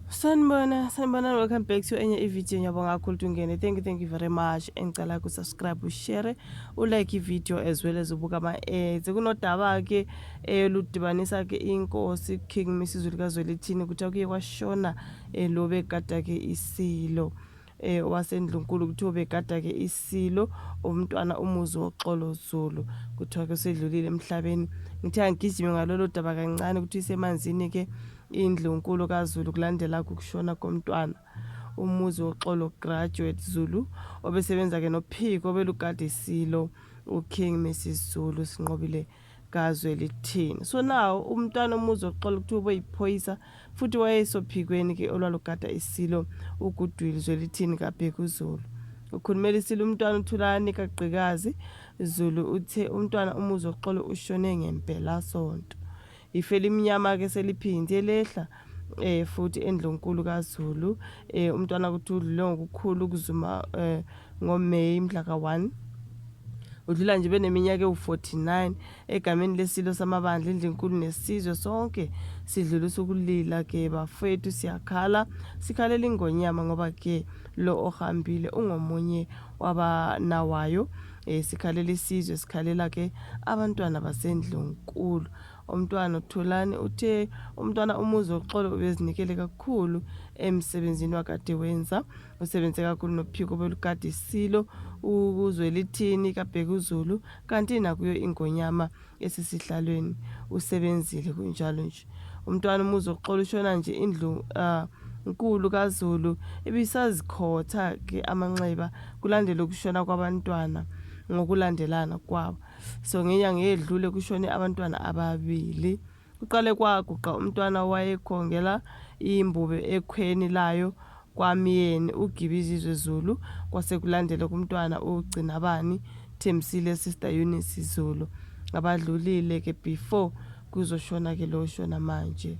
sanibona sanibona welcome back to enye ividiyo ngiyabonga kakhulu tungene thank you thank you very much engicela kusubscribe ushare ulike ividiyo as well as ubuka ama-ads eh, kunodaba-ke eludibanisa-ke eh, inkosi king misizulu kazwelithini kuthiwa kuye kwashona um eh, lo bekade-ke isilo eh, wasendlunkulu kuthiwa ubegada-ke isilo umntwana umuzi woxolo zulu kuthiwa-ke usedlulile emhlabeni ngithe angigijime ngalolo daba kancane ukuthi isemanzini-ke indlunkulu kazulu kulandela kukushona komntwana umuzi woxolo graduate zulu obesebenza-ke nophiko obelugade isilo uking mrs zulu sinqobile kazwe lithini so now umntwana umuzi oxola ukuthi uboyiphoyisa futhi wayesophikweni ke olwalugada isilo ugudwili zwelithini kabhekuzulu ukhulumela isilo umntwana uthulani kagqikazi zulu uthe umntwana umuzi oxolo ushone ngempelasonto ife limnyama-ke seliphinde lehla eh futhi endlunkulu kaZulu eh umntwana ukuthi udlule ngokukhulu kuzuma eh ngoMay mhla ka-1 udlula nje beneminyaka ewu-49 egameni lesilo samabandla indlinkulu nesizwe sonke sidlula usukulila ke bafethu siyakhala sikhalela ingonyama ngoba ke lo ohambile ungomunye wabanawayo eh sikhalela isizwe sikhalela ke abantwana basendlunkulu Umntwana uThulani uthe umntwana umuzi woxolo ubezinikele kakhulu emsebenzini wakade wenza usebenze kakhulu nophiko belukade silo ukuzwelithini kabhekuzulu kanti nakuyo ingonyama esesihlalweni usebenzile kunjalo nje umntwana umuzi woxolo ushona nje indlu uh, nkulu kazulu ibisazikhotha ke amanxeba kulandela ukushona kwabantwana ngokulandelana kwabo so ngenyanga eyedlule kushone abantwana ababili kuqale kwaguqa umntwana wayekhongela imbube ekhweni layo kwamyeni ugibizizwe zulu kwase kulandela kumntwana ugcinabani thembisile sister eunice zulu abadlulile ke before kuzoshona ke lo shona manje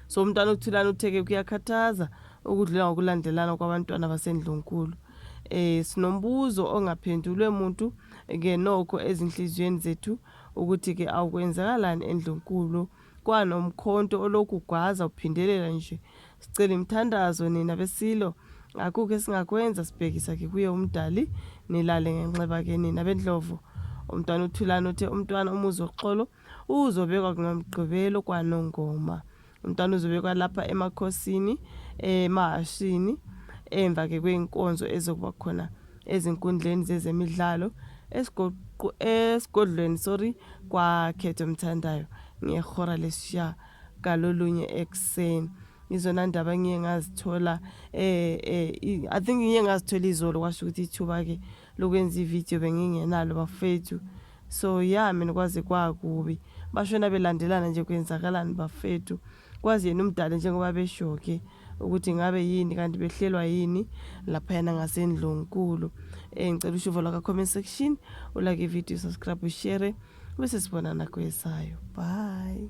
so umntwana uthulana utheke kuyakhathaza ukudlula ngokulandelana kwabantwana basendlunkulu Eh sinombuzo ongaphendulwe muntu ke nokho ezinhliziyweni zethu ukuthi ke awukwenzakalani endlunkulu kwanomkhonto olokhu gwaza uphindelela nje. Sicela imthandazo nina besilo akukho esingakwenza sibhekisa ke kuye umdali nilale ngenxeba ke nina bendlovu. Umntwana uThulani uthe umntwana umuzi woxolo uzobekwa kunomgqibelo kwanongoma. Umntwana uzobekwa lapha emakhosini emahashini emva ke kweyinkonzo ezokuba khona ezinkundleni zezemidlalo esigodlweni sorry kwakhetho mthandayo ngehora lesishiya kalolunye ekuseni izona ndaba ngiye ngazithola eh, eh i think ngiye ngazithola izolo kwasho ukuthi ithuba ke lokwenza ivideo bengingenalo bafethu So ya mina kwaze kwakubi bashona belandelana nje kwenzakalani bafethu kwazi yena umdala njengoba beshoke ukuthi ngabe yini kanti behlelwa yini laphayana ngasendlunkulu eh ngicela ushuvo lwaka comment section ulake ivideo subscribe ushare bese sibonana kwesayo bye